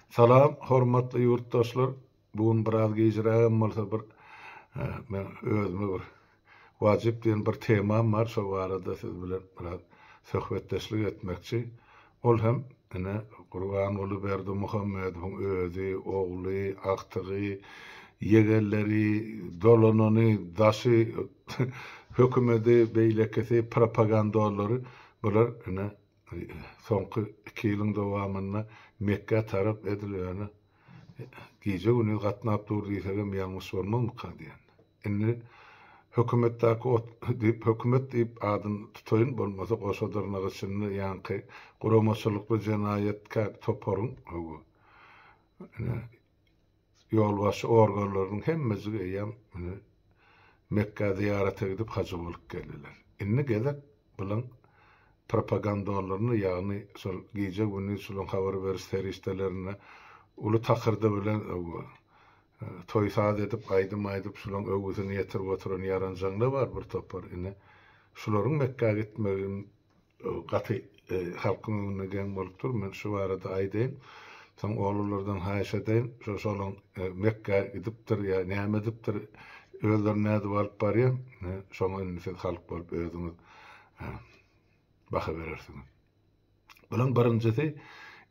Salam, hormatly ýurtdaşlar. Bu gün biraz gijräk hem bolsa bir e, men özüme bir wajyp diýen bir temam bar. Şo barada siz bilen biraz söhbetdeşlik etmekçi. Ol hem ine Gurbanguly Berdimuhamedowyň özi, ogly, agtygy, ýegenleri, dolanany, daşy hökümeti, beýlekisi, propagandalary bular ine soňky iki ýylyň dowamynda Mekgä tarap edil ýöne gije-gündiz gatnap dur diýsegem ýalňyş bolmazmyka diýen. Indi hökümetdäki ot diýip hökümet diýip adyny tutaýyn bolmasa goşa dyrnak içinde ýaňky guramaçylykly jenaýatkär toparyň öwi. Ine Ýolbaşçy organlarynyň hemmejigi eýýäm indi Mekgä zyýarata gidip hajy bolup geldiler. Indi gezek bulan propagandonlaryna ýagny şol gije gündiz şulan habar beriş serişdelerine uly takyrdy bilen toý saz edip aýdym aýdyp şulan öwgüsini ýetirip oturan ýaranjaňlar bar bir topar indi şularyň Mekgä gitmegin gaty halkyň öňünde geň bolup dur. Men şu barada aýdaýyn. Soň oglanlardan haýyş edeýin, şu şolaň Mekgä gidipdir ýa näme edipdir, özlerini nädip alyp barýa, şoňa indi siz halk bolup özüňiz baha berersiňiz. Bulaň birinjisi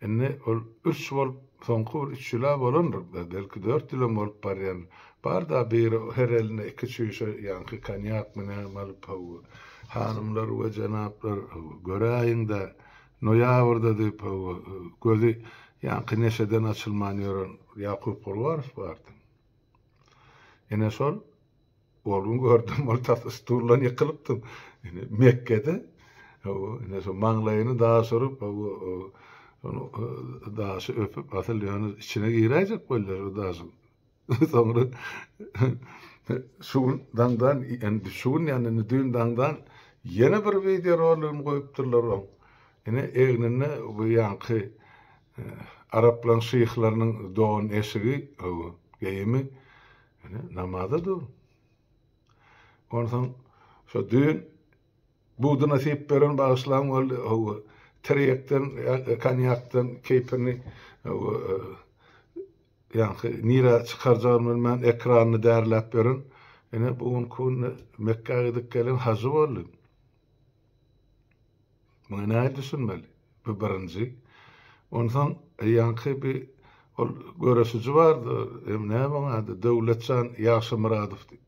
indi ol ürç bolup soňky bir üç ýyla bolandyr, belki dört ýylam bolup barýandyr. Bar-da bir her eline iki çüýşe ýaňky konýak münem alyp, haw, hanymlar we jenaplar, haw, göräýiň-dä, noýabrda diýip, haw, gözi ýaňky neşeden açylman ýören Ýakup Gurbarow bardy. Ine şol, ol gün gördüm, ol tas stuldan ýykylypdy. Ine, Mekgede, haw, ine şo maňlaýyny daş urup, haw, şonu daşy öpüp, asyl ýöne içine giräýjek bolýar o daşyň. Soňra şu gün daňdan, indi şu gün ýa-da indi düýn daňdan ýene bir wideo roligini goýupdyrlar oň. Ine egninde bu ýaňky araplaryň şyhlarynyň don eşigi, ow, geýimi. Ine namaza dur. Onsoň şu düýn Budy nasip beren bagyşlaň boldy hawa tirekden konýakdan keýpini ýaňky nirä çykarjagyny bilmän ekranyny därläp ýören ine bu günki günde Mekgä gidip gelen hajy boldy. Muňa nähili düşünmeli? Bu birinji. Onsoň ýaňky bir ol göreşiji bardy, näme onuň ady, Döwletjan Ýagşymyradow diýip.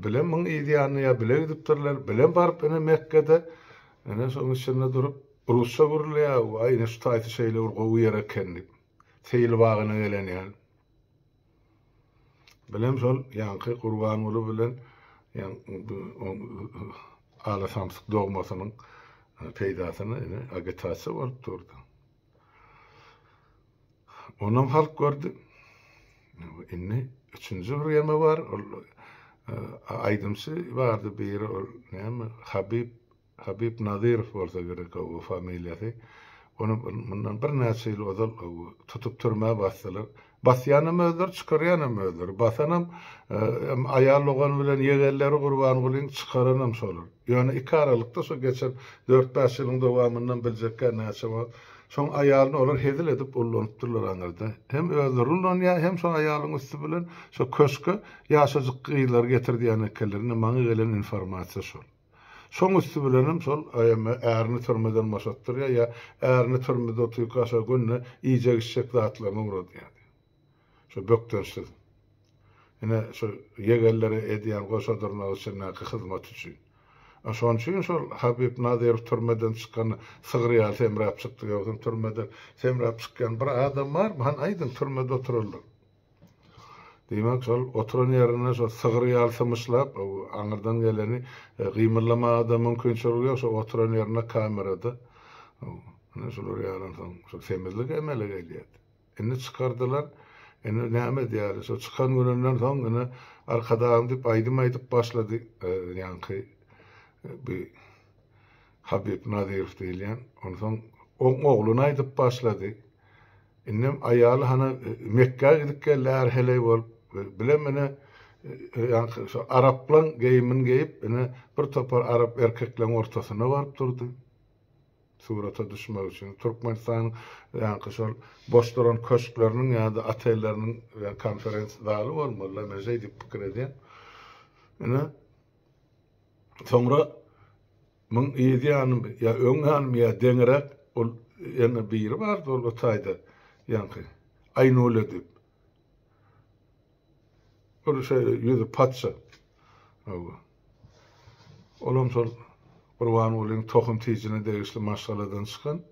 Bile myň yzýanyna ýa bile gidipdirler, bile baryp ene Mekgede, ene şoň içinde durup, rusça gürleýär, Waý, ine şu taýsy şeýle bir gowy ýer eken diýip, seýil bagyna gelen ýaly. Bilem şol ýaňky Gurbanguly bilen ala samsyk dogmasynyň peýdasyna ene agitasiýa bolup durdy. Onam halk gördi. Indi üçünji bir ýeme bar. Ol e, aýdymçy bardy biri ol näme Habib Habib Nazirow bolsa gerek o familiýasy. Onu bundan bir näçe ýyl ozal tutup türmä basdylar. Basýanam özleri, çykarýanam özleri. Basanam hem aýal dogany bilen ýegenleri Gurbangulyň, çykaranam şolar. Ýöne iki aralykda şu geçen dört-bäş ýylyň dowamyndan biljekkä näçe wagt şoň aýalyny olar hezil edip ullanypdyrlar aňyrda. Hem özleri ullanýar, hem şo aýalyň üsti bilen şo köşke ýaşajyk gyzlary getirdýän ekenler. Indi maňa gelen informasiýa şol. Şoň üsti bilenem şol emme ärini türmeden boşatdyrýar ýa ärini türmede otyrka şo günde iýjek-içjek zatlaryny ugradýar diýýär. Şo bökdençsiz. Ine, şo ýegenlere edýän goşa dyrnak içindäki hyzmaty üçin. A şon üçin şol Habib Nazirow türmeden çykanda sygyr ýaly semräp çykdy. Ýogsam türmeden semräp çykýan bir adam barmy? Hany aýdyň, türmede oturanlar. Diýmek, şol oturan ýerinde şo sygyr ýaly symyşlap, aňyrdan geleni gymyldamaga-da mümkinçiligi ýok, şo oturan ýerinde kamerada. Ine, şular ýalansoň, şo semizlik emele gelýär. Indi çykardylar, indi näme edýäris? Şo çykan gününden soň ine, Arkadagym diýip aýdym aýdyp başlady, ýaňky bi Habib Nazirow diýilýän. Onsoň oň ogluny aýdyp başlady. Indem aýaly hany Mekgä gidip gelýär heleý bolup, bile mine ýaňky şu araplaň geýimini geýip, ine bir topar arap erkekleň ortasyna baryp durdy. Surata düşmek üçin Türkmenistanyň ýaňky şol boş duran köşkleriniň ýa-da otelleriniň konferens zaly bolmaly-la, men şeýdip pikir edýän. Ine, soňra Muň yz ýanymy ýa öň ýanymy ýa deňiräk ol ýene biri bardy ol o taýda ýaňky Aýnule diýip. Ol şeýle ýüzi patja. Hawa. Olam şol Gurbangulyň tohum tijine degişli maşgaladan çykan.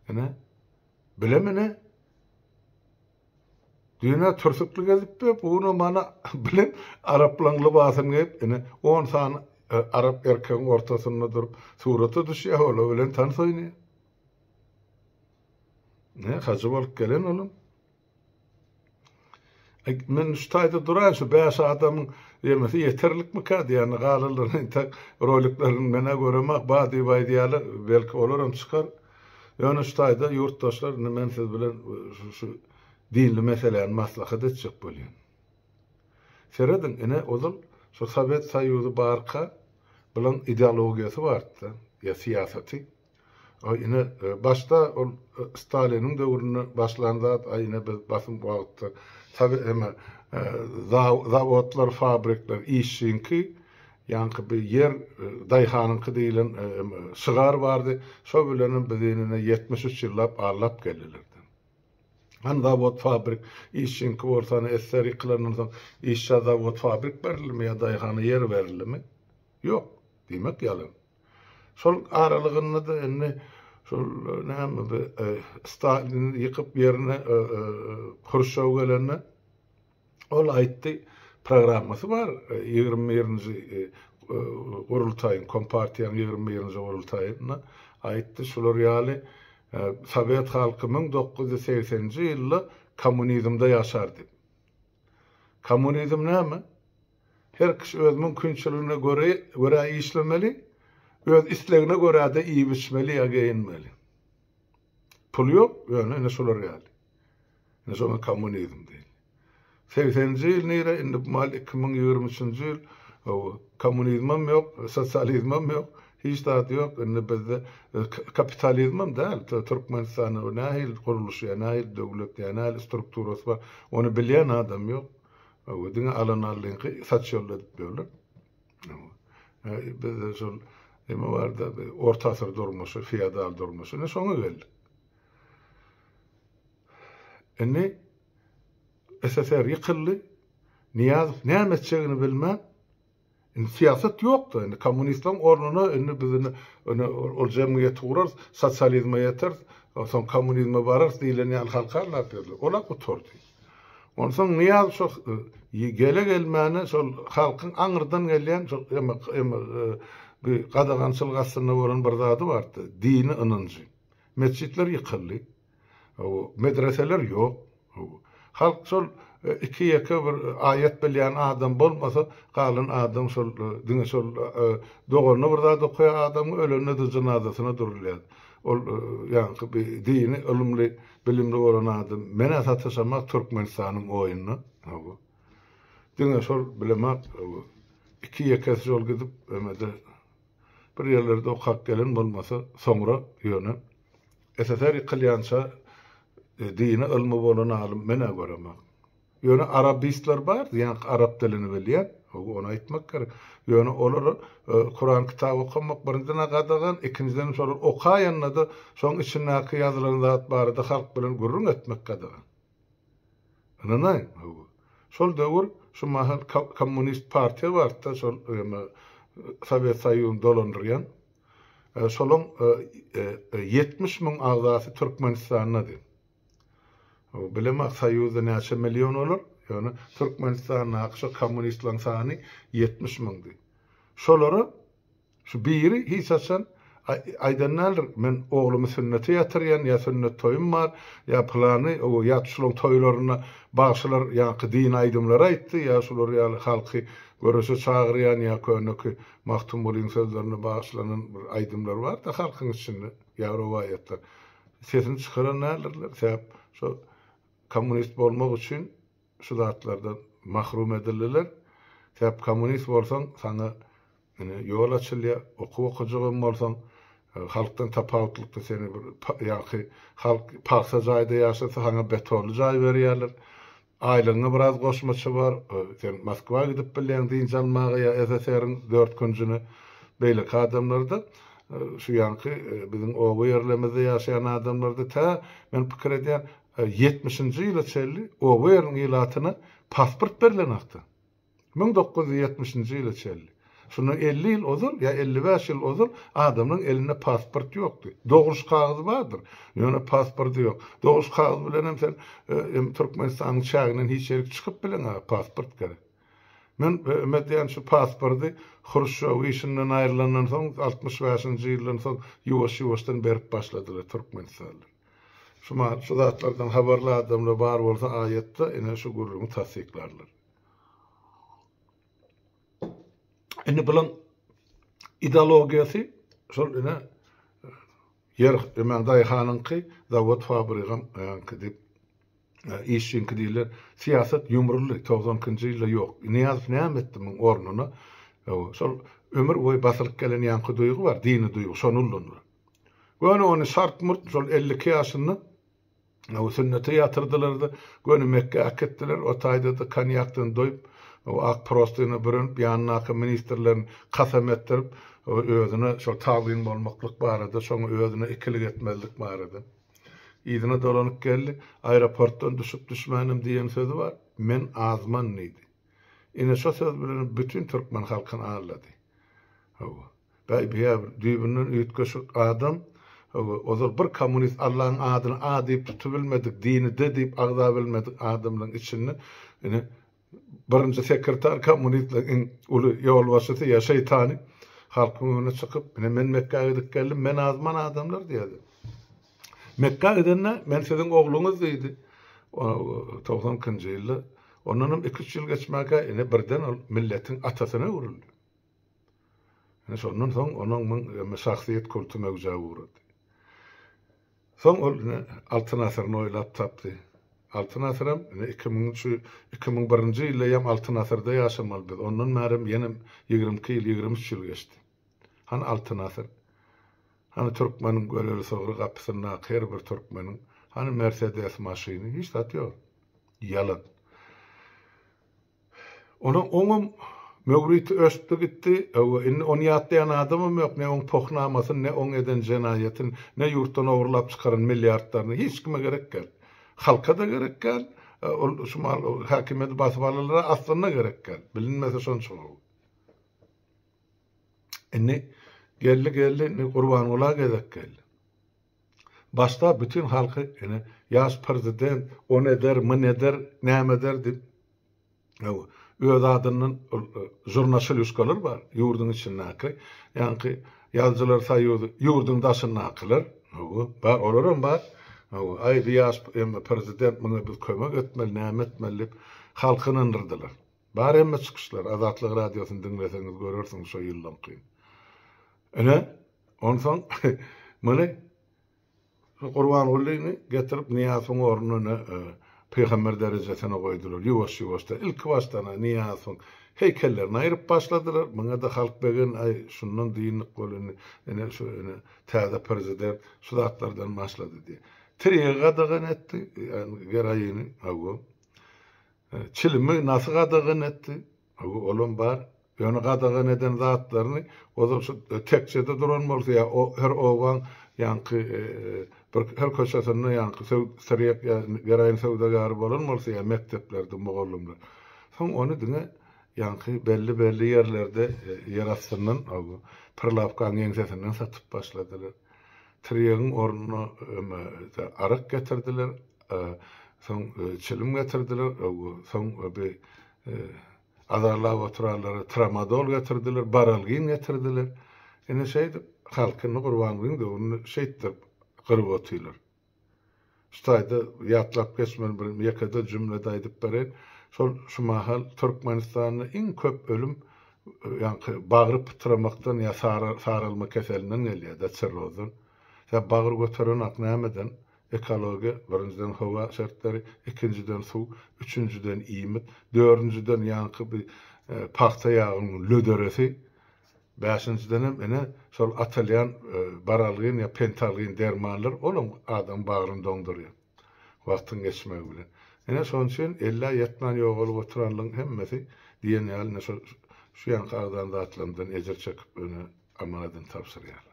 Ine. Bilemine. Düýn-ä türsükli gezipdi, bu gün mana bilen araplaň lybasyny geýip, ine, on sany arap erkegiň ortasynda durup, surata düşýär, olar bilen tans oýnaýar. Ne, hajy bolup gelen olam. Men şu taýda duraýyn, şu bäş adamyň ýemesi ýeterlikmikä diýýän, galanlaryny entek roliklerini men-ä göremak, ba diýip aýdýarlar, belki olar hem çykar. Ýöne şu taýda ýurtdaşlar indi men siz bilen şu dinli meseläni maslahat etjek bolýan. Serediň ine ozal şu Sowet Soýuzy barka bulan ideologiýasy bardy-da, ýa syýasaty. A ine başda ol Staliniň döwründe başlan zat, a ine biz basym wagtda Sowet eme zawodlar, fabrikler işçiňki Ýaňky bir Ýer daýhanyňky diýlen şygar bardy, şo bilenem biz inine ýetmiş üç ýyllap allap geldilerdi. Hany zawod-fabrik, işçiňki bolsa hany esser ýykylandan soň işçä zawod-fabrik berildimi ýa daýhana ýer berildimi? Ýok, diýmek ýalan. Şol aralygynda-da indi şol näme bi Stalini ýykyp ýerine Hruşşow gelende, Ol aýtdy, programmasy bar, ýigrimi birinji gurultaýyň, kompartiýanyň ýigrimi birinji gurultaýynda aýtdy, şular ýaly, Sowet halky müň dokuz ýüz segseninji ýylda kommunizmde ýaşar diýip. Kommunizm näme? Her kişi öz mümkinçiligine göre, görä işlemeli, öz islegine görä-de iýip-içmeli ýa geýinmeli. Pul ýok, ýöne ine şular geldi. Ine şoňa kommunizm diýilýär. Segsenji ýyl nire, indi bu mahaly iki müň ýigrimi üçünji ýyl, hawa, kommunizmem ýok, sosializmem ýok, hiç zat ýok, indi bizde kapitalizmem däl, Türkmenistanda bu nähili gurluş, ýa nähili döwlet, ýa nähili strukturasy bar, ony bilýän adam ýok. Hawa, diňe alan-aldyňky saçýolda edip ýörler. Biz şol neme barda orta asyr durmuşy, feodal durmuşy, ne şoňa geldik. Indi SSR ýykyldy. Niýazow näme etjegini bilmän, indi syýasat ýokdy. Indi kommunistleriň ornuna indi biz indi ol jemgyýet gurarys, sosializme ýeteris, soň kommunizme bararys diýlen ýaly halka anlatýarlar. Ol-a gutardy. Onsoň Nyýaz şo gele-gelmäne şol halkyň aňyrdan gelýän şo bi gadagançylyk astynda bolan bir zady bardy, dini ynanjy. Metjitler ýykyldy. Hawa, medreseler ýok. Hawa. Halk şol iki-ýeke bir aýat bilýän adam bolmasa, galan adam şol diňe şol doganyna bir zat okaýan adamyň ölende-de jynazasyna durulýardy. Ol ýaňky bi dini ylymly Bilimli bolan adam menä sataşamak Türkmenistanyň oýuna hawa. Diňe şol bilemak hawa. Iki ýekesi şol gidip emede bir ýerlerde okap gelen bolmasa soňra ýöne SSR ýykylýança dine ylmy bolan alym menä göremak. Ýöne arabistler bar, diýýän arap dilini bilýän, ony aýtmak gerek. Ýöne olar Kuran kitaby okamak birinjiden-ä gadagan, ikinjiden şolar okaýanda-da şoň içindäki ýazylan zat barada halk bilen gürrüň etmek gadagan. Ynanaýyň, hawa. Şol döwür şu mahal kommunist partiýa bardy-da, şol Sowet Soýuzyny dolandyrýan. Şolaň ýetmiş müň agzasy Türkmenistandady. Bilemok soýuzda näçe million olar, ýöne Türkmenistandaky şo kommunistleriň sany ýetmiş müňdi. Şolara şu biri hiç haçan aýdan däldir, men oglumy sünnete ýatyrýan, ýa sünnet toýum bar, ýa pylany, ýa şolaryň toýlarynda bagşylar ýaňky dini aýdymlary aýtdy, ýa şular ýaly halky göreşe çagyrýan, ýa köneki Magtymgulyň sözlerine bagyşlanan bir aýdymlar bar-da halkyň içinde, ýa rowaýatlar. Sesini çykaran däldirler, sebäp şo kommunist bolmak üçin şu zatlardan mahrum edildiler. Sebäp kommunist bolsaň saňa ine ýol açylýar, okuw okajak hem bolsaň, halkdan tapawutlykda seni bir ýaňky halk pagsa jaýda ýaşasa saňa betonly jaý berýärler. Aýlygyňa biraz goşmaça bar. Sen Moskwa gidip bilýäň dynç almaga ýa SSR-iň dört künjüne. Beýleki adamlarda, şu ýaňky biziň oba ýerlemizde ýaşaýan adamlarda tä, men pikir edýän, ýetmişinji ýyla çenli oba ýeriniň ilatyna pasport berlen hakda. Müň dokuz ýüz ýetmişinji ýyla çenli. Şundan elli ýyl ozal ýa elli bäş ýyl ozal adamlaryň elinde pasport ýokdy. Dogruş kagyzy bardyr, ýöne pasporty ýok. Dogruş kagyzy bilenem sen em Türkmenistanyň çäginden hiç ýerik çykyp bileňä, pasport gerek. Men me diýän şu pasporty Hruşşow işinden aýrylandan soň altmyş bäşinji ýyldan soň ýuwaş-ýuwaşdan berip başladylar türkmenistanlar. Şu ma şu zatlardan habarly adamlar bar bolsa aýatda ine şu gürrüňi tassyklarlar. Indi bulan ideologiýasy şol ine ýer ömen daýhanyňky zawod fabrigam öňki diýip işçiňki diýler. Syýasat ýumruldy. 92-nji ýylda ýok. Nyýazow näme etdi muň ornuna? Şol ömür boýy basylyp gelen ýaňky duýgy bar, dini duýgy, şony ullandylar. Göni ony şart-murt şol 52 ýaşynda Ow sünnete ýatyrdylar-da, göni Mekgä äkitdiler. O taýda-da konýakdan doýup, ow ak prostyna bürenip, ýanyndaky ministrlerini kasam etdirip, ow özüne şol tagzym bolmaklyk barada, şoňa özüne ikilik etmezlik barada. Yzyna dolanyp geldi. Aeroportdan düşüp-düşmänem diýen sözi bar. Men azman diýdi. Ine şo söz bilen bütin türkmen halkyny aldady. Hawa. Gaýbya bir düýbünden üýtgeşik adam. Hawa, ozal bir kommunist Allaň adyny A diýip tutubilmedik, dini D diýip agzabilmedik adamlaň içinde ine birinji sekretar kommunistlaň iň uly ýolbaşçysy ýa şeýtany halkyň öňüne çykyp, ine men Mekgä gidip geldim, men azman adamlar diýýärdi. Mekgä gidende men siziň ogluňyz diýdi. Togsan ikinji ýylda. Ondanam iki-üç ýyl geçmäge ine birden ol milletiň atasyna öwrüldi. Ine şondan soň onuň mün emme şahsyýet kulty möwjä ugrady. Soň ol ine Altyn asyryny oýlap tapdy. Altyn asyr hem ine iki müňünçi, iki müň birinji ýylda hem Altyn asyrda ýaşamaly biz. Ondan bäri hem ýene ýigrimi iki ýyl, ýigrimi üç ýyl geçdi. Hany Altyn asyr? Hany türkmeniň göleli sygry gapysyndaky her bir türkmeniň hany Mersedes maşyny? Hiç zat ýok. Ýalan. Ony oňam möwriti öçdi gitdi. Hawa, indi ony ýatlaýan adamam ýok. Ne oň pohnamasyny, ne oň eden jenaýatyny, ne ýurtdan ogurlap çykaran milliardlaryny. Hiç kime gerek däl. Halka-da gerek däl. Ol şu mal häkimiýeti basyp alalara aslynda gerek däl. Bilinmese şonça gowy. Indi geldi geldi indi Gurbangula gezek geldi. Başda bütin halky ene ýaş prezident on eder, myn eder, näme eder diýip öz adyndan žurnaşilýuskalar bar ýurduň içindäki ýaňky ýazyjylar soýuzy ýurduň daşyndakylar hawa bar olaram bar hawa aýdy ýaş prezident muňa biz kömek etmeli näme etmeli diýip halky ynandyrdylar. Bar hemme çykyşlar, Azatlyk Radiosyny diňleseňiz görersiňiz şo ýyllyňky. Ine, onsoň muny şu Gurbangulyny getirip Nyýazowyň ornuna pygamber derejesine goýdular. Ýuwaş-ýuwaşdan, ilki başdan-a Nyýazowyň heýkellerini aýryp başladylar. Muňa-da halk begendi, aý, şundan dynnyk bol indi, ine, şu, ine, täze prezident şu zatlardan başlady diýip. Tiregi gadagan etdi, geroini, hawa. Çilimi nasy gadagan etdi? Hawa, olam bar. Ýöne gadagan eden zatlaryny ozal şu tekjede duran bolsa ýa o her obaň ýaňky bir her köçesinde ýaňky tirýek ýa geraýin söwdagäri bolan bolsa ýa mekdeplerde mugallymlar. Soň ony diňe ýaňky belli-belli ýerlerde ýer astyndan hawa, prilawkaň ýeňsesinden satyp başladylar. Tirýegiň ornuna aryk getirdiler. Soň çilim getirdiler, soň bir azarlap oturanlara tramadol getirdiler, baralgin getirdiler. Ine şeýdip, halkyny Gurbangulyň döwründe şeýtdirip gyryp otyrlar. Şu taýda ýatlap geçmeli bir ýeke-de jümle-de aýdyp bereýin. Şol şu mahal Türkmenistanda iň köp ölüm ýaňky bagry pytramakdan ýa saralma keselinden gelýär-de, çirrozdan. Sebäp bagyr göterenok nämeden? Ekologiýa, birinjiden howa şertleri, ikinjiden suw, üçünjiden iýmit, dördünjiden ýaňky bi pagta ýagynyň löderesi, bäşinjidenem ine şol atylýan baralgin ýa pentalgin dermanlar, olam adamyň bagryny doňdurýar wagtyň geçmegi bilen. Ine şonuň üçin ellä ýetmän ýogalyp oturanlygyň hemmesi diýen ýaly ine şo şu ýaňky agzan zatlarymyzdan ejir çekip ine Amana edin tabşyrýar.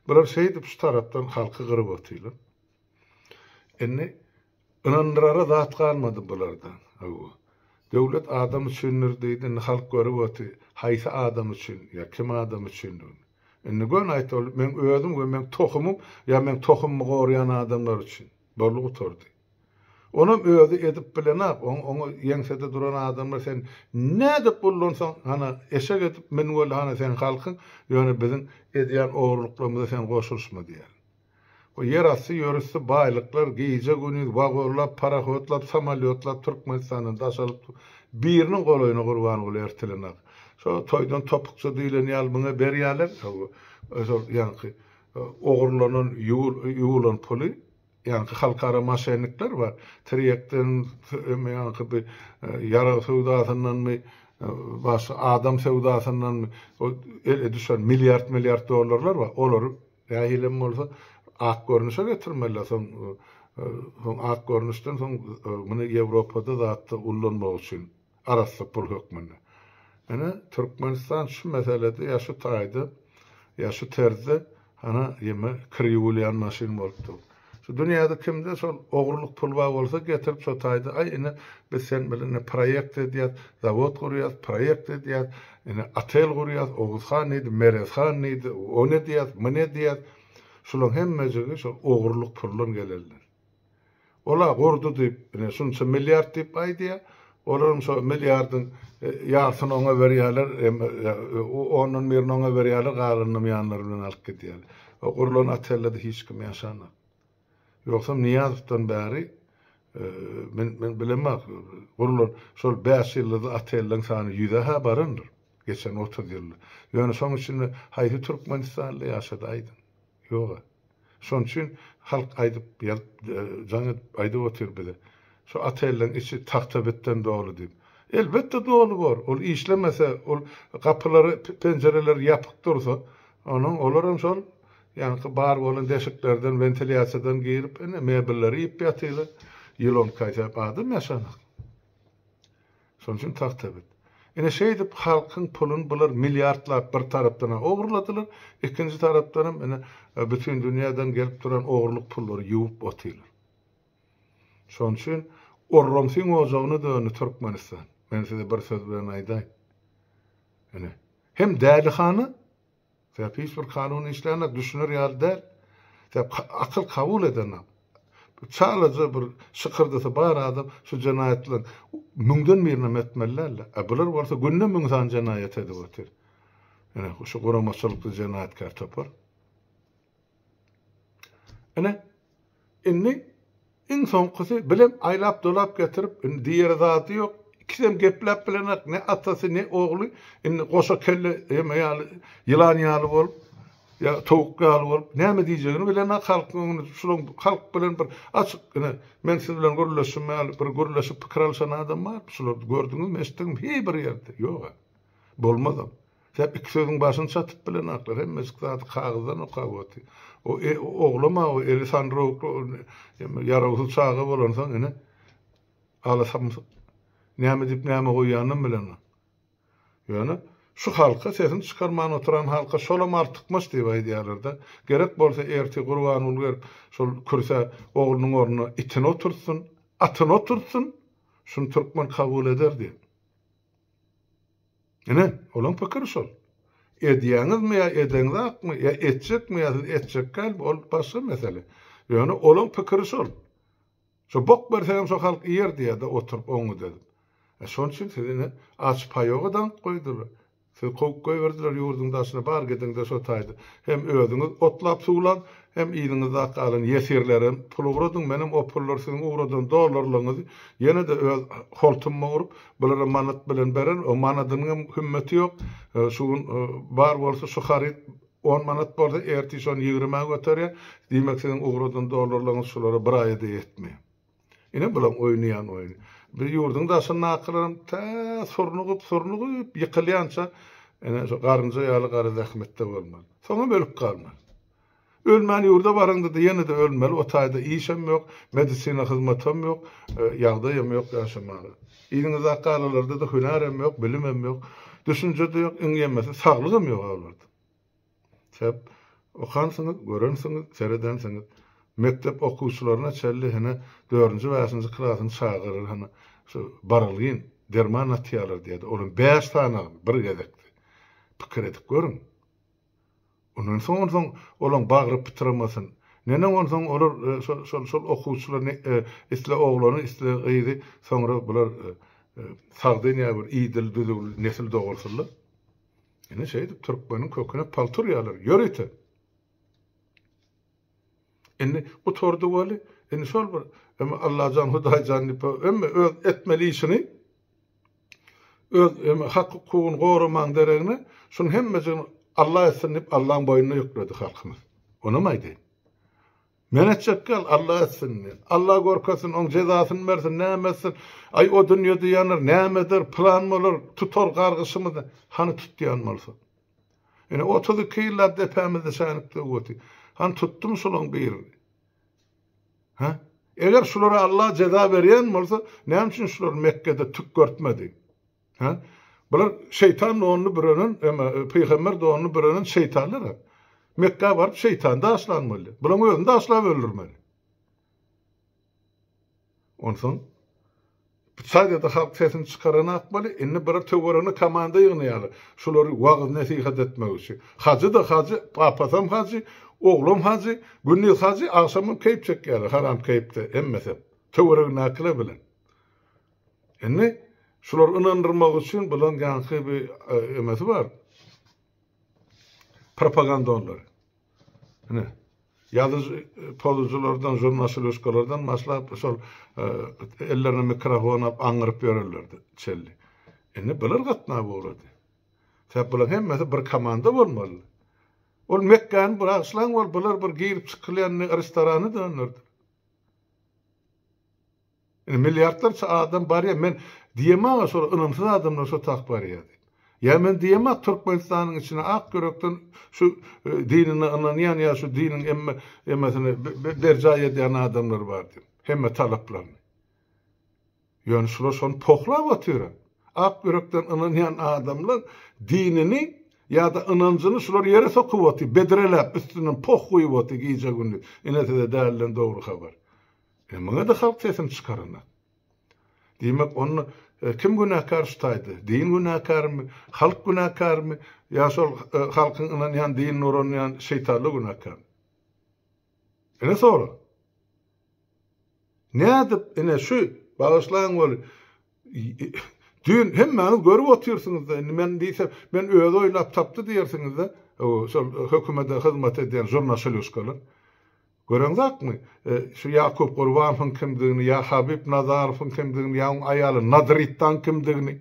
Bular şeýdip şu tarapdan halky gyryp otylar. Indi ynandyrara zat galmady bulardan. Hawa. Döwlet adam üçindir diýdi, indi halk görüp oty, haýsy adam üçin, ýa kim adam üçindir. Indi göni aýtmaly, meň özüm we meň tohumym, ýa meň tohumymy goraýan adamlar üçin. Boldy gutardy. Onam özi edip bilenok, oň oňa ýeňsede duran adamlar sen nädip gullansaň, hana, eşek edip mün weli hana seň halkyň, ýöne biziň edýän ogrulyklarymyza sen goşulyşma diýer. Bu ýerasty ýörüsli baýlyklar gije-gündiz wagonlap, parahodlap, samolýotlap Türkmenistandan daşalyp biriniň golaýyna Gurbanguly ertelenak. Şo toýdan topukja diýlen ýaly muňa berýärler, ýaňky, ogrulanan, ýuwulan puly. Ýaňky halkara maşennikler bar. Tirýekden öme ýaňky bir ýarag söwdasyndanmy, başga adam söwdasyndanmy o ele düşen milliard-milliard dollarlar bar. Olary nähili hem bolsa ak görnüşe getirmeliler. Soň soň ak görnüşden soň muny Ýewropada zatda ullanmak üçin. arassa pul hökmünde. Ine, Türkmenistan şu meselede ýa şu taýda, ýa şu terzde hana ýeme kir ýuwulýan maşyn bolup dur. Şu dünýäde kimde şol ogurlyk pul bar bolsa getirip şu taýda, aý ine biz sen bilen ine proýekt edýäs, zawod gurýas, proýekt edýäs, ine otel gurýas, Oguz han diýdi, Merez han diýdi, ony edýäs, muny edýäs. Şulaň hemmejigi şol ogurlyk puldan gelenler. Ol-a gurdy diýip, ine, şunça milliard diýip aýdýar. Olaryň şo milliardyň ýarsyny oňa berýärler, ondan birini oňa berýärler, galanyny ýanlary bilen alyp gidýärler. O gurlan otelde-de hiç kim ýaşanok. Ýogsam Nyýazowdan bäri men bilemok, gurlan şol bäş ýyllyzly otelleň sany ýüze-hä barandyr, geçen otuz ýylda. Ýöne şoň içinde haýsy türkmenistanly ýaşady, aýdyň? Ýog-a. Şonuň üçin halk aýdyp, ýazyp, jaň edip aýdyp otyr bize. Şu otelleriň içi tagtabitden doly diýip. Elbetde doly bor. Ol işlemese, ol gapylary, penjireleri ýapyk dursa, onuň olar hem şol ýaňky bar bolan deşiklerden, wentilýasiýadan girip, ine, mebelleri iýip ýatylar. Ýylon kaýsa adam ýaşanok. Şonuň üçin tagtabit. Ine şeýdip halkyň puluny bular milliardlap bir tarapdan-a ogurladylar, ikinji tarapdanam ine bütin dünýäden gelip duran ogurlyk pullary ýuwup otyrlar. Şonuň üçin orromsiň ojagyna döndi Türkmenistan. Men size bir söz bilen aýdaýyn. Ine, hem dälihana, Sebäp hiç bir kanun işlänok, düşüner ýaly däl. Sebäp akyl kabul edenok. Çalaja bir şykyrdysy bar adam şu jenaýatlaryň müňden birinem etmeli däldi. A bular bolsa günde müň sany jenaýat edip otyr. Ine, şu guramaçylykly jenaýatkär topar. Ine, indi iň soňkusy bilem aýlap-dolap getirip, indi diýere zady ýok. Ikisem gepläp bilenak, ne atasy, ne ogly. Indi goşa kelle ýeme ýaly, ýylan ýaly bolup, ýa towuk ýaly bolup, näme diýjegini bilenak halkyň öňünde. Şulaň halk bilen bir açyk, ine, men siz bilen gürleşim ýaly, bir gürleşip pikir alyşan adam barmy şularda? Gördüňizmi, eşitdiňmi? Hiý bir ýerde. Ýog-a. Bolmazam. Säp iki sözüň başyny çatyp bilenoklar, hemmejik zady kagyzdan okap oty. O oglam-a o eli sanrowukly, ýarawsyz çaga bolansoň ine, alasamsyk. Näme diýip näme goýýanynam bilenok. Ýöne, şu halka sesini çykarman oturan halka şolam artykmaç diýip aýdýarlar-da. Gerek bolsa ertir Gurbanguly gelip şol kürsä oglunyň ornuna itini oturtsyn, atyny oturtsyn, şuny türkmen kabul eder diýip. Ine, olaň pikiri şol. Edýäňizmi ýa edeňzakmy, ýa etjekmi ýa siz etjekdälmi, ol başga mesele. Ýöne olaň pikiri şol. Şo bok berseňem şo halk iýer diýýärde oturyp oňňut edip. E şoň üçin siz ine aç paýoga daňyp goýdular. Sizi kowup goýberdiler ýurduň daşyna bar gidiňde şo taýda. Hem özüňiz otlap suwlaň, hem yzyňyzda galan ýesirlerem pul ugradyň, menem o pullar siziň ugradan dollarlaryňyzy ýene-de öz holtumyma urup, Bulara manat bilen berer, o manadynyň hem hümmeti ýok. Şu gün bar bolsa şu haryt on manat bolsa, ertiş ony ýigrimä göterýär. Diýmek siziň ugradan dollarlaryňyz şulara bir aýa-da ýetmeýär. Ine bulaň oýnaýan oýny. Biz ýurduň daşyndakylaram tä surnugyp, surnugyp ýykylýança ine şu garynja ýaly gara zähmetde bolmaly. Soňam ölüp galmaly. Ölmän ýurda baraňda-da ýene-de ölmeli, o taýda işem ýok, medisina hyzmatam ýok, ýagdaýam ýok ýaşamaga. Yzyňyzdaky galalarda-da hünärem ýok, bilimem ýok, düşünje-de ýok, iň ýemesi saglygam ýok-a olarda. Sebäp okansyňyz, görensiňiz, seredensiňiz. Mekdep okuwçylaryna çenli hene dördünji, bäşinji klasyň çagalar hany şu barylgyn derman atýarlar diýýärdi, olam bäş sany bir gezekde. Pikir edip görüň. Ondan soň, onsoň olaň bagry pytramasyn. Neneň onsoň olar şol, şol okuwçylar ne, isle oglany, isle gyzy, soňra bular sagdyn ýa bir idil, düzüwli nesil dogursynlar. Ine şeýdip türkmeniň köküne paltur ýalar. Ýör ite! Indi gutardy weli, indi şol bir öme Allajan, Hudaýjan diýip o öme öz etmeli işini, öz öme hak-hukugyny goramagyň deregine, şunuň hemmejigini Alla etsin diýip Allaň boýnuna ýükledi halkymyz. Onam aýdaýyn. Men etjek ýaly Alla etsin. Alla görkezsin, oň jezasyny bersin, näme etsin. Aý o dünýede ýanar, näme eder, pylan bolar, tutar gargyşymyzy. Hany tutýan bolsa. Ine, otuz iki ýyllap depämizde şänikdi bu oty. Han tutdum şolaň birini. Hä? Eger şulara Allah jeza berýän bolsa, näme üçin şular Mekgede tük görtmedi? Hä? Bular şeýtan donuny bürenen, ema e, pygamber donuny bürenen şeýtanlar. Mekga baryp şeýtan daşlan boldy. Bulaň özüni daşlap öldürmeli. Onsoň bu çaýda-da halk sesini çykaranak boli, indi bir töweregine komanda ýygnaýarlar. Şulary wagyz-nesihat etmek üçin. Hajy-da hajy, papasam hajy, oglam hajy, gündiz hajy, agşamam keýp çekýärler, haram keýpde hemmesem. Töweregindäkiler bilen. Indi şulary ynandyrmak üçin bularyň ýaňky bir emesi bar, propaganda onlary. Ine, ýazyjy pozujulardan, žurnaşuleşkalardan başlap, şol ellerine mikrofon alyp aňňyryp ýörerlerdi çelli. Indi bular gatnap ugrady. Sebäp bular hemmesi bir komanda bolmaly. Ol Mekgäni buragyşlaň bol, bular bir girip çykylýan restorany döndürdi. Indi milliardlarça adam barýa men diýemaga şol ynamsyz adamlar şo tak barýa diýip. Ýa men diýema Türkmenistanyň içine ak ýürekden şu dinine ynanýan ýa şu diniň emme emmesini berjaý edýän adamlar bar diýip. Hemme talaplaryny. Ýöne şular şony pohlap otyra. Ak ýürekden ynanýan adamlar dinini ýa-da ynanjyny şular ýere sokup otyr, bedreläp üstünden poh guýup otyr gije gündüz. Ine size däliden dogry habar. E muňa-da halk sesini çykaranak. Diýmek, onda kim günäkär şu taýda? Din günäkärmi? Halk günäkärmi? Ýa şol halkyň ynanýan dinine uranýan şeýtanlar günäkär? Ine sorag. Nädip ine şu bagyşlaň weli düýn hemmäňiz görüp otyrsyňyz-da, indi men diýsem, men özi oýlap tapdy diýersiňiz-de, şol hökümete hyzmat edýän žurnaşelýuskalar. Gören zatmy, şu Ýakup Gurbanowyň kimdigini, ýa Habib Nazarowyň kimdigini, ýa onuň aýaly Nadr Itdaň kimdigini?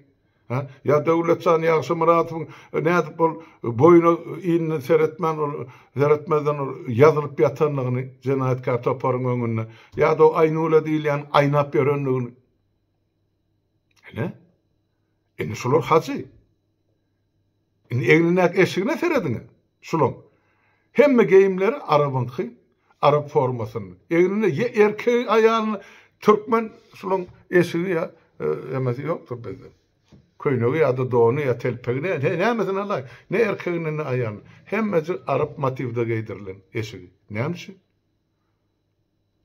Hä? Ýa Döwletjan Ýagşymyradowyň nädip ol boýuna inine seretmän, ol seretmezden ol ýazylyp ýatandygyny jenaýatkär toparyň öňünde? Ýa-da o Aýnula diýilýän aýnap ýörendigini? Ine, indi şular hajy. Indi egnindäki eşigine serediň, şulaň. Hemme geýimleri arabyňky, arap formasynda. Egninde ýa erkegi, aýalyny türkmen şulaň eşigi ýa emesi ýokdur bizde. Köýnegi ýa-da dony ýa telpegi näme, nämesini alaý. Ne erkegine, ne aýalyna. Hemmejik arap motiwde geýdirilen eşigi. Näme üçin?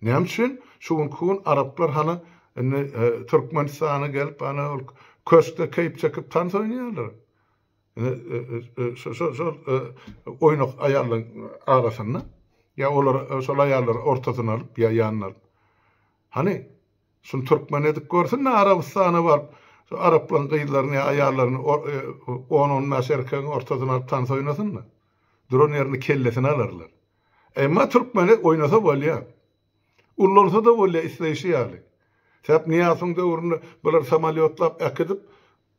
Näme üçin şu günki gün araplar hany indi Türkmenistana gelip hany ol köşkde keýp çekip tans oýnaýarlar. Şo şo oýnak aýallaryň arasynda ýa olar şol aýallary ortasyna alyp ýa ýanyna alyp. Hany şuny türkmen edip görsün-de Arabystana baryp şu araplaryň gyzlaryny ýa aýallaryny on-on bäş erkegiň ortasyna alyp tans oýnasyn-da. Duran ýerinde kellesini alarlar. Emma türkmeni oýnasa bolýa. Ullansada bolýa isleýşi ýaly. Säp Nyýasowyň döwründe bular samolýotlap äkidip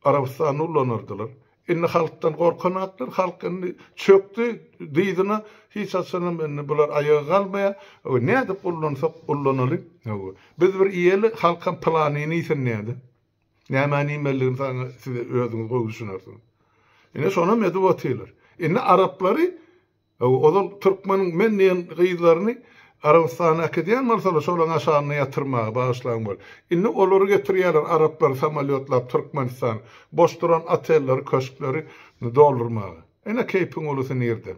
Arabystanda ullanardylar. Indi halkdan gorkanaklar, halk indi çökdi dyzyna, hiç haçanam indi bular aýaga galmaýa. Hawa nädip ullansak ullanaly. Hawa. Biz bir iýeli halkam planyny iýsin diýädä. Nämäni iýmelidigini saňa siz özüňiz gowy düşünersiňiz. Ine şonam edip otyrlar. Indi araplary Ozal türkmeniň men diýen gyzlaryny Arabystana äkidýän bolsalar şolaň aşagynda ýatyrmaga bagyşlaň bol. Indi olary getirýäler araplary samolýotlap Türkmenistana boş duran otelleri köşkleri doldurmaga. Ine keýpiň ulusy nirde.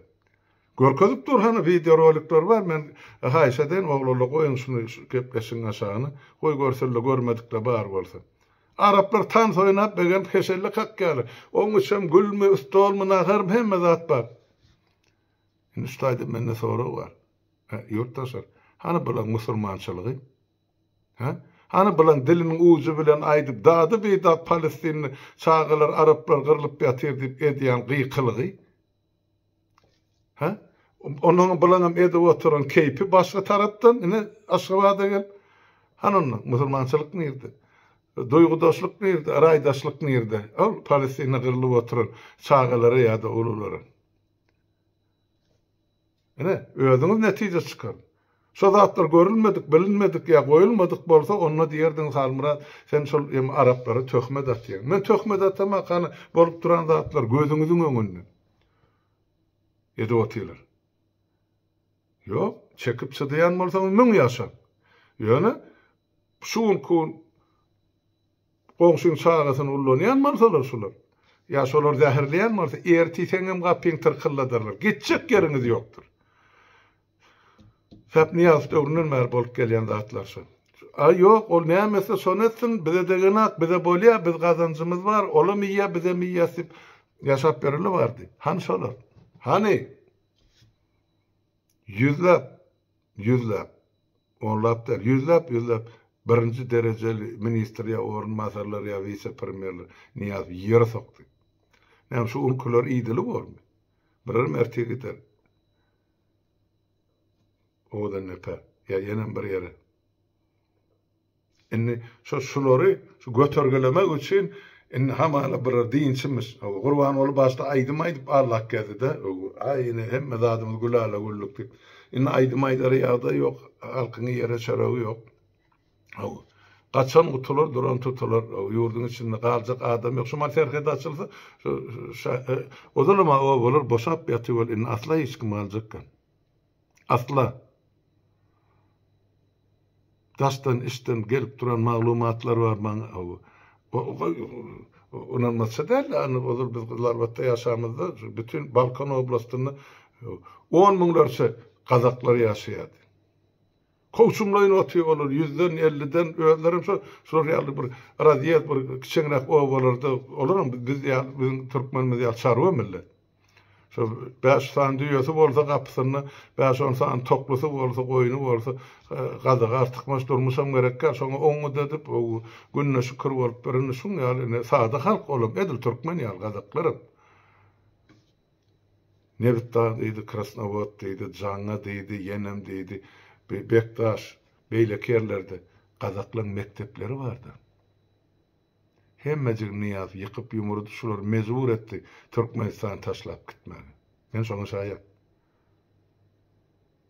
Görkezip dur hany wideo rolikler bar men haýyş edeýin oglala goýuň şuny şu gepleşigiň aşagyna goý görsünle görmedikle bar bolsa. Araplar tans oýnap begenip heşelle kakýalar. Oň üçem gülmi ustolmy naharmy hemme zat bar. Indi şu taýda mende sorag bar. Ýurtdaşlar, hany bulaň musulmançylygy? Hä? Hany bulaň diliniň ujy bilen aýdyp, dady bidat palestinli çagalar, araplar gyrlyp ýatyr diýip edýän gykylygy? Hä? Onuň bulaňam edip oturan keýpi başga tarapdan, ine Aşgabada gel. Hany onda musulmançylyk nirde? Duýgudaşlyk nirde, raýdaşlyk nirde? Ol Palestina gyrlyp oturan çagalara ýa-da ululara. Ine, özüňiz netije çykaryň. Şo zatlar görülmedik, bilinmedik ýa goýulmadyk bolsa, onda diýerdiňiz, Halmyrat, sen şol hem araplara töhmet atýaň. Men töhmet atamak, hany, bolup duran zatlar gözüňiziň öňünde. Edip otyrlar. Ýok, çekip çydaýan bolsaňyz müň ýaşaň. Ýöne, Şu günki gün goňşyň çagasyny ullanýan bolsalar şular, ýa şolar zäherleýän bolsa, ertir seňňem gapyňy tyrkyldadarlar, gitjek ýeriňiz ýokdur. Sapnyýazow döwründen bäri bolup gelýän zatlar şu. Aý ýok, ol näme etse şony etsin, bize degenak, bize bolýa, biz gazanjymyz bar, olam iýýä, bizem iýýäs diýip ýaşap ýöreli bardy. Hany şolar? Hany? Ýüzläp, ýüzläp onlap däl, ýüzläp-ýüzläp birinji derejeli ministr ýa orunbasarlar ýa wise-premýerler Nyýazowy ýere sokdy. Näme, şu ülküler idili bormy? Birer merti gider. Owadandepe ýa ýenem bir ýere. Indi şo şulary şu götergelemek üçin indi hamala bir dynçymyş. Hawa Gurbanguly başda aýdym aýdyp allak gezdi-de. Aý ine hemme zadymyz gülala güllük diýip. Indi aýdym aýdara ýagdaý ýok. Halkyň ýere çöregi ýok. Hawa. Gaçan gutular, duran tutular. Hawa ýurduň içinde galjak adam ýok. Şumal serhet açylsa şo şa ozalam obalar boşap ýatyb ol indi asla hiç kim galjak gal. Asla daşdan işden gelip duran maglumatlar bar maň ynanmaça däldi ony ozal biz gyzlarbatda ýaşamyzda bütin balkan oblastynda on müňlerçe gazaklar ýaşaýardy Kowçumlaýyn otyrýar olar, ýüzden, elliden, özlerem şo, şular ýaly bir razýez bir kiçeňräk obalarda, olaram bi biz ýaly, biziň türkmenimiz ýaly çarwa millet. Şo bäş sany düýesi bolsa gapysynda, bäş-on sany toklusy bolsa, goýny bolsa, e, gazyga artykmaç durmuşam gerek däl, şoňa oňňut edip, o gününe şükür bolup, birine şuň ýaly, ine, sada halk olam, edil türkmen ýaly, gazaklar hem. Nebitdag diýdi, Krasnowod diýdi, Jaňga diýdi, ýenem diýdi, bi Bekdaş, beýleki ýerlerde gazaklaň mekdepleri bardy. Hemmejigini Nyýaz ýykyp-ýumurdy, şular mejbur etdi Türkmenistany taşlap gitmäge. Men şoňa şaýat.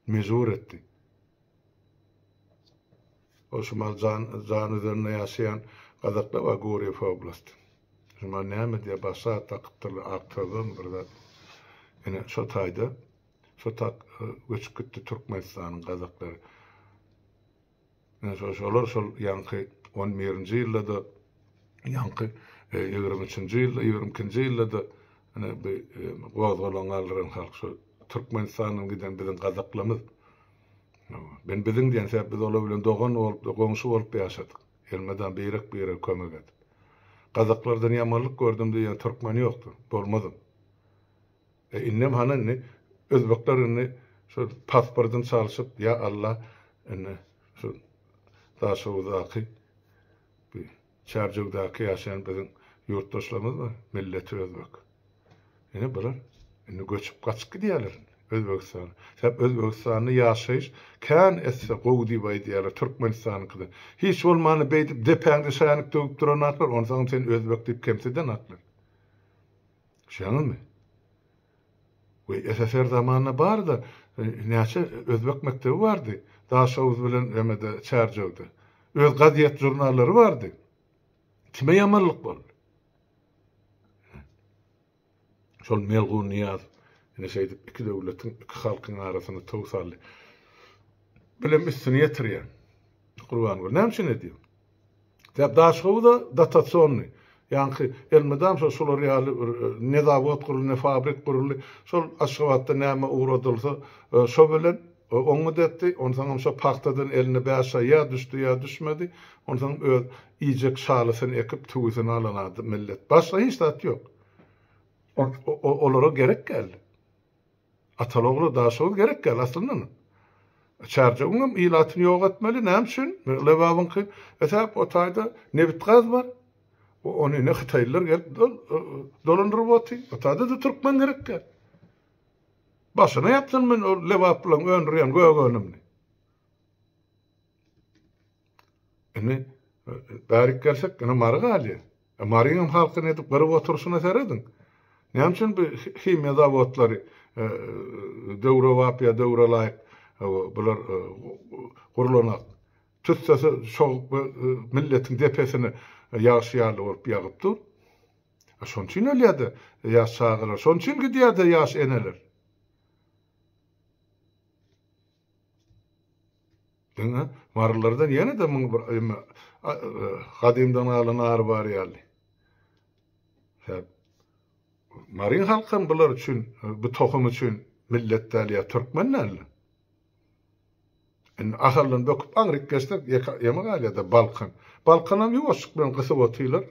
mejbur etdi. Ol şumal jan jan üzerinde ýaşaýan gazaklar bar Gurýew oblasty. Şumal näme diýýär başga at dakypdyrlar ak sözlem bir zat. Ine şo taýda şo tak göçüp gitdi Türkmenistanyň gazaklary. Ine, şo, şolar şol ýaňky on birinji ýylda-da, ýaňky ýigrimi üçünji ýylda, ýigrimi ikinji ýylda-da, ine, bi, gozgalaň galdyran halk şo Türkmenistandan giden biziň gazaklarymyz. Men biziň diýen sebäp biz olar bilen dogan bolup-da, goňşy bolup-da ýaşadyk. Elmydam birek-birege kömek edip. Gazaklardan ýamanlyk gördüm diýýän türkmen ýokdur, bolmazam. E indem hany indi özbekler indi şu pasportyny çalşyp ýa Alla indi şu Daşoguzdaky bi Çärjewdaky ýaşaýan biziň ýurtdaşlarymyz bar milleti özbek. Indi bular indi göçüp gaçyp gidýärler Özbegistana. Sebäp Özbegistanda ýaşaýyş kän esse gowy diýip aýdýarlar Türkmenistanyňkydan. Hiç bolmanda beýdip depäňde şänik döwüp duranaklar onsaňam seni özbek diýip kemsidenaklar. Şeňňimi? We SSR zamanynda barda näçe özbek mekdebi bardy? Daşoguz bilen emede Çärjewde. Öz gazet žurnallary bardy. Kime ýamanlyk boldy? Şol Melgun Niýaz ine şeýdip iki döwletiň, iki halkyň arasyny tow saldy. Bilem üstüni ýetirýän. Gurban gül, näme üçin edýän? Ýa Daşhowuza dotasionny, ýaňky elmydam şo şular ýaly bir ne zawod guruldy, ne fabrik guruldy, şol Aşgabatda näme ugradylsa, şo bilen oňňut etdi, onsoňam şo pagtadan eline bäş şa ýa düşdi, ýa düşmedi, onsoňam öz iýjek şalysyny ekip, tüwüsini alan millet. Başga hiç zat ýok. Olara gerek däldi. Ataly ogla daşoguz gerek däl aslyndan. Çärjewiňem ilatyny ýok etmeli näme üçin lebabyňky esäp o taýda nebit gaz bar. O ony ine hytaýlylar gelip dolandyryp oty. O taýda da türkmen gerek däl. Başyna ýapsyn men o lebap bilen öndürýän gögönümni. Indi bärik gelsek, indi Mary galýar. E, Marynyň halky nädip gyryp oturyşyna serediň. Näme üçin bu himiýa zawodlary e, döwrebap ýa döwrelaýyk e, bular e, gurlanok. Tüssesi çogup e, milletiň depesine ýagşy ýaly bolup ýagyp dur. E, şonuň üçin ölýär-de ýaş çagalar, şonuň üçin gidýär-de ýaş eneler. Ine, marylardan ýene-de muňa bir ýa-da gadymdan galan ar bar ýaly. Sebäp Maryň halkam bular üçin, bu tohum üçin millet däl ýa türkmen däl. Indi Ahaldan böküp aňryk geçsek, ýa-ýeme galýa-da Balkan. Balkanam ýuwaşjyk bilen gysyp otyrlar.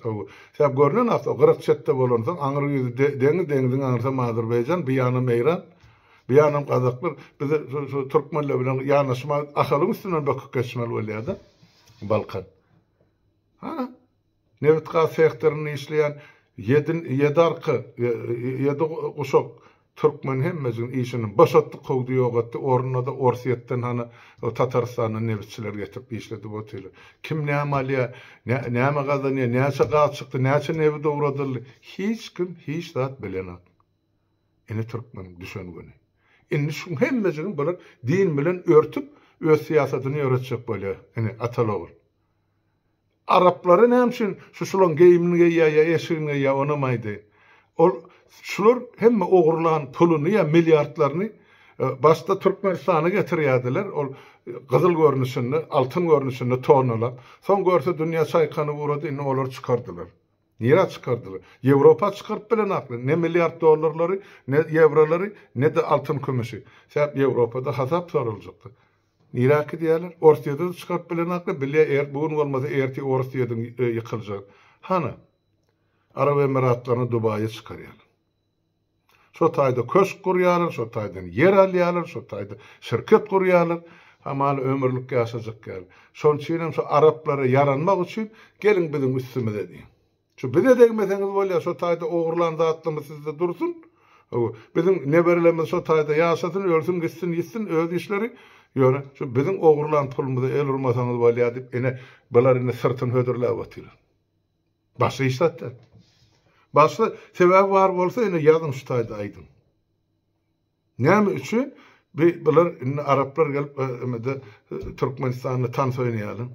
Sebäp görnen zat o gyryk çetde bolansoň, aňry ýüzi deňiz, deňiziň aňrysam Azerbaýjan, bu ýanam Eýran. Bu ýanam gazaklar bize şu türkmenler bilen ýanaşmaz, Ahalyň üstünden böküp geçmeli bolýar-da. Balkan. Hana, nebit-gaz sektorynda işleýän ýedi ýedi arka, ýedi guşak türkmen hemmejigini işinden boşatdy, kowdy, ýok etdi. Ornuna-da Orsýetden, hana, Tatarystandan nebitçiler getirip işledip otyrlar. Kim näme alýar, näme gazanýar, näçe gaz çykdy, näçe nebit owradyldy, hiç kim hiç zat bilenok. Ine türkmeniň düşen güni. Indi şuň hemmejigini bular din bilen örtüp öz syýasatyny ýöretjek bolýa ine atal ogul. Araplary näme üçin şu şulaň geýimini geýýä ýa eşigini geýýä onam aýdaýyn. Ol şular hemme ogurlan puluny ýa milliardlaryny başda türkmenistana getirýädiler ol gyzyl görnüşinde altyn görnüşinde tonnalap soň görse dünýä çaýkanyp ugrady indi olary çykardylar. Nirä çykardylar? Ýewropa çykaryp bilen akly, ne milliard dollarlary, ne ýewrolary, ne-de altyn-kümüşi. Sebäp Ýewropada hasap soraljak-da. Nirä kidýärler? Orsýede-de çykaryp bilen akly, bilýä er, bu gün bolmasa ertir Orsýediň ýykyljagyny. Hany, Arap Emiratlaryny Dubaýa çykarýarlar. Şo taýda köşk gurýarlar, şo taýdan ýer alýarlar, şo taýda şirket gurýarlar. Hamala ömürlik ýaşajak ýaly. Şonuň üçin hem şu araplara ýaranmak üçin geliň biziň üstümize diýen. Şu bize degmeseňiz bolýar, şo taýda ogurlan zatlymyz sizde dursun. Hawa, biziň neberelerimiz şo taýda ýaşasyn, ölsün gitsin, ýitsin öz işleri. Ýöne şu biziň ogurlan pulumyza el urmasaňyz bolýar diýip, ine, bular indi syrtyny hödürläp otyrlar. Başga iş zat däl. Başga sebäbi bar bolsa indi ýazyň şu taýda aýdyň. Näme üçin bi bular indi araplar gelip emede Türkmenistanda tans oýnaýarlar.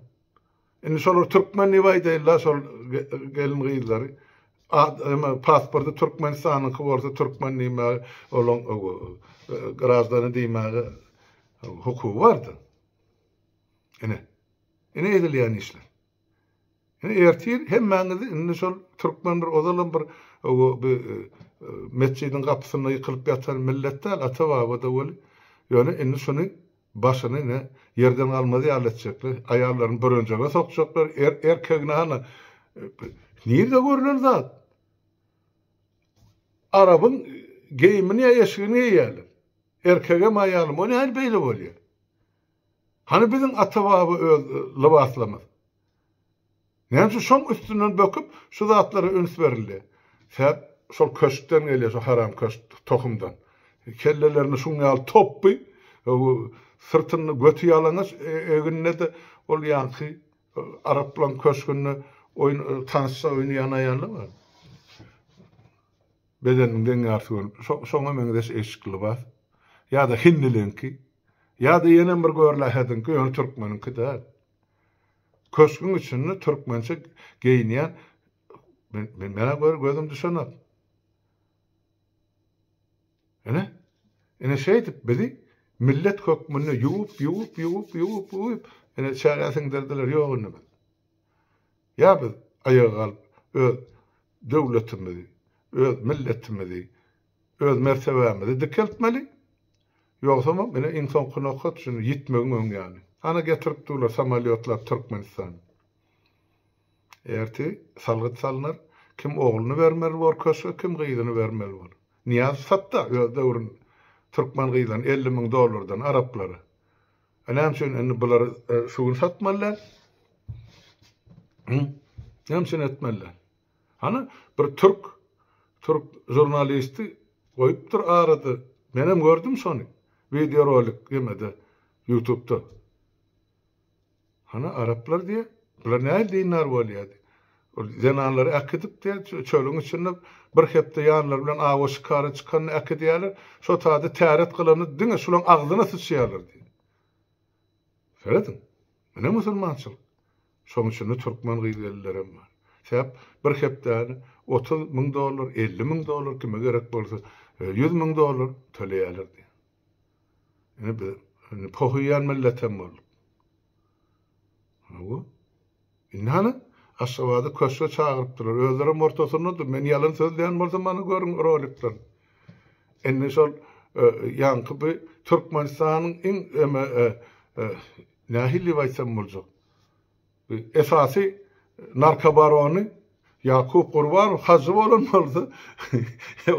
Indi şolar türkmen diýip aýdaýlar şol gelin gyzlary. Emma pasporty Türkmenistanyňky bolsa türkmen diýmäge olaň grazdany diýmäge hukugy bardy. Ine. Ine edilýän işler. Ine ertir hemmäňizi indi şol türkmen bir ozalam bir bir metjidiň gapysynda ýykylyp ýatan millet däl ata baba-da weli ýöne indi şuny başyny ine ýerden galmaz ýaly etjekler aýallaryny bürenjege sokjaklar er erkegini hany nirde görlen zat arabyň geýimini ýa eşigini geýýärler erkegem aýalym o nähili beýle bolýar Hany biziň ata-baba öz lybaslamyz? Näme üçin şoň üstünden böküp, şu zatlara üns berildi? Sebäp şol köşkden gelýär, şo haram köşk tohumdan. Kellelerinde şuň ýaly topby, syrtynda göti ýalaňaç, egninde-de ol ýaňky araplaň köşgünde oýun, tansça oýnaýan aýallar bar. Bedeniň deň ýarysy görnüpdi. Şo, şoňa meňzeş eşikli lybas. Ýa-da hindiliňki. Ýa-da ýenem bir görläherdiňki, ýöne türkmeniňki däl. Köşgüň içinde türkmençe geýinýän, men, men, menä gör, gözüm düşenok. Ine, ine şeýdip bizi millet hökmünde ýuwup, ýuwup, ýuwup, ýuwup, ýuwup, ine çägä siňdirdiler, ýok indi biz. Ýa biz aýaga galyp öz döwletimizi, öz milletimizi, öz mertebämizi dikeltmeli, ýogsamam ine iň soňky nokat şu ýitmegiň öň ýany. Ana getirip durlar samolýotlap Türkmenistana. Ertir salgyt salnar, kim ogluny bermeli bor köşge, kim gyzyny bermeli bor. Nyýazow satda öz döwründe türkmen gyzlaryny elli müň dollardan araplara. A näme üçin indi bular şu gün satmalylar? Näme üçin etmeliler? Hany bir türk türk žurnalisti goýupdyr arada. Men hem gördüm şony. Video rolik ýemede YouTube'da. Hany araplar diýe, bular näil dindar bolýardy. Zenanlary äkidip-de, çölüň içinde bir hepde ýanlary bilen awa şikara çykanda äkidýärler. Şo taýda täret gylanyp, diňe şulaň agzyna syçýarlar diýdi. Serediň, ine musulmançylyk. Şoň içinde türkmen gyz-gelinlerem bar. Sebäp bir hepdäni otuz müň dollar, elli müň dollar, kime gerek bolsa, ýüz müň dollar töleýärler diýdi. Ine bir indi pohyýan milletem bolduk. Hawa. Indi hany Aşgabada köşge çagyrypdylar. Özlerem ortasyndadyr. Men ýalan sözleýän bolsam mana görüň rolikden. Indi şol e, ýaňky bu Türkmenistanyň iň eme e, e, nähili diýip aýtsam boljak. Esasy narkobarony Ýakup Gurbanow hajy bolan bolsa,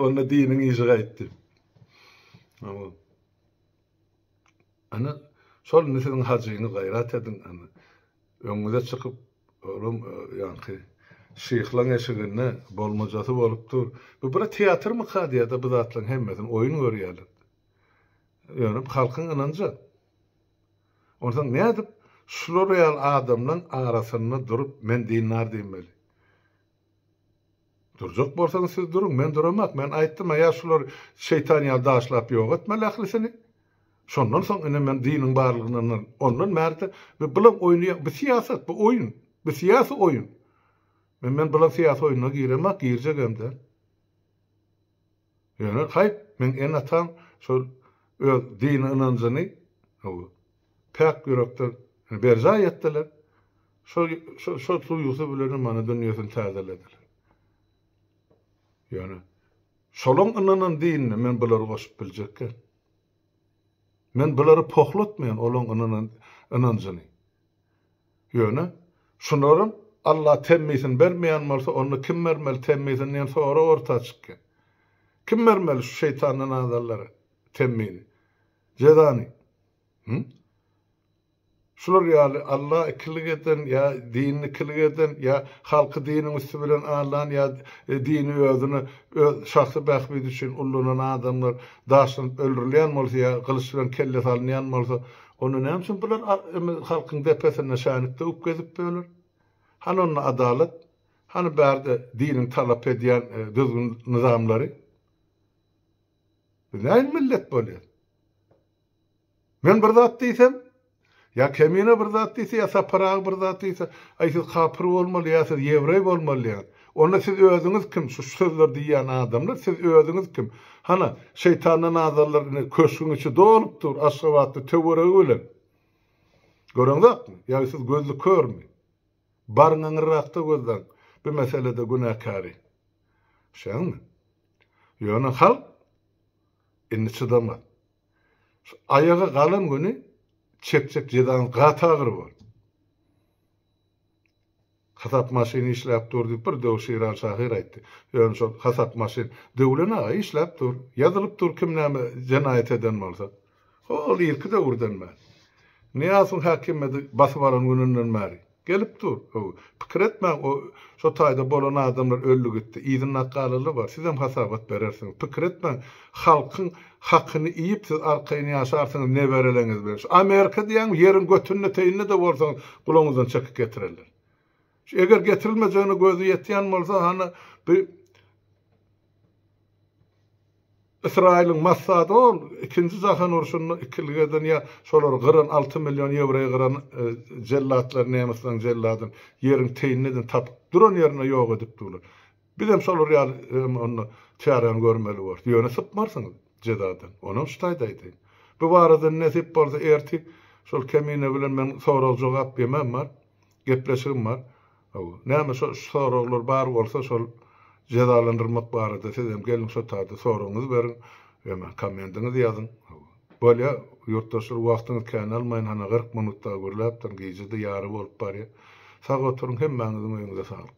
onda diniň işi gaýtdy. Ana, şol indi siziň hajyňyz gaýrat ediň, ana. Öňüňize çykyp, olam ýaňky şyhlaň eşiginde bolmajasy bolup dur. Bu bir teatrmyka diýýär-de bu zatlaryň hemmesini, oýun görýärler. Ýöne halkyň ynanja. Onsoň nädip şular ýaly adamlaň arasynda durup men dindar diýmeli? Durjak bolsaňyz siz duruň, men duramak, men aýtdym-a ýa şular şeýtan ýaly daşlap ýok etmeli ählisini. Şondan soň ine men diniň barlygyny ynanaryn. Ondan bärde biz bulam oýnaýan, bu syýasat, bu oýun, bu syýasy oýun. Men men bulam syýasy oýuna giremak, girjegem däl. Ýöne haýp, meň ene-atam şol öz dini ynanjyny gowy, päk ýürekden berjaý etdiler. Şol, şol, şol duýgusy bilenem mana dünýesini täzelediler. Ýöne şolaň ynanan dinine men bulary goşup biljekkäm. Men bulary pohlatmaýan olaň ynanan ynanjyny. Ýöne, şularam, Alla temmisini bermeýän bolsa, onda kim bermeli temmisini diýen sorag orta çykýar. Kim bermeli şu şeýtandan azanlara temmini, jezany? Hü? Şular ýaly Alla ikilik eden ýa dini ikilik eden ýa halky diniň üsti bilen aldan ýa dini özüne öz şahsy bähbidi üçin ullanan adamlar daşlanyp öldürilýän bolsa ýa gylyç bilen kelle salynýan bolsa, Onda näme üçin bular halkyň depesinde şänik döwüp gezip ýörler? Hany onda adalat? Hany bärde diniň talap edýän düzgün-nyzamlary? Biz nähili millet bolýar? Men bir zat diýsem, ýa Kemine bir zat diýse, ýa Sapar aga bir zat diýse, aý siz kapyr bolmaly, ýa siz ýewreý bolmaly diýýän. Onda siz özüňiz kim şu sözleri diýýän adamlar siz özüňiz kim hana şeýtandan azarlar ine köşgüň içi dolup dur aşgabatly töweregi bilen göreňzakmy ýagy siz gözli körmi baryň aňyrrakda gözleň bu meselede günäkäri düşýäňmi ýöne halk indi çydamaz şu aýaga galan güni çekjek jezaňyz gaty agyr bol. Hasap maşyny işläp dur diýip bir döwür Şiran şahyr aýtdy. Ýöne şol hasap maşyn Döwlen aga işläp dur. Ýazylyp dur kim näme jenaýat eden bolsa. Hol irki döwürden bäri. Nyýazowyň häkimiýeti basyp alan gününden bäri. Gelip dur. Hawa. Pikir etmäň o şo taýda bolan adamlar öldi gitdi. Yzynda akgalaly bar. Sizem hasabat berersiňiz. Pikir etmäň. Halkyň hakyny iýip siz arkaýyn ýaşarsyňyz nebereleňiz bilen. Şu Amerika diýýäňmi ýeriň götünde teýinde-de bolsaňyz gulagyňyzdan çekyk getirerler. Şu eger getirilmejegine gözi ýetýän bolsa hany bu Ysraýylyň Massady ol ikinji jahan urşunda ikilik eden ýa şolary gyran alty million ýewreý gyran jellatlar nemisleriň jelladyny ýeriň teýinde-den tapyp duran ýerinde ýok edip durlar. Bizem şolar ýaly hem onda çäräni görmeli bolarys. Ýöne sypmarsyňyz jezadan. Onam şu taýda aýdaýyn. Bu barada nesip bolsa ertir şol kemine bilen men sorag-jogap demem bar. Gepleşigim bar. Hawa. Näme şo şu soraglar bar bolsa şol jezalandyrmak barada sizem geliň şo taýda soragyňyzy beriň. Ýa-da komendiňizi ýazyň. Hawa. Bolýar. Ýurtdaşlar wagtyňyzy kän almaýyn. Hana gyrk minut dagy gürläpdirin. Gije-de ýary bolup barýar. Sag oturyň. Hemmäňiziň öýüňize saglyk.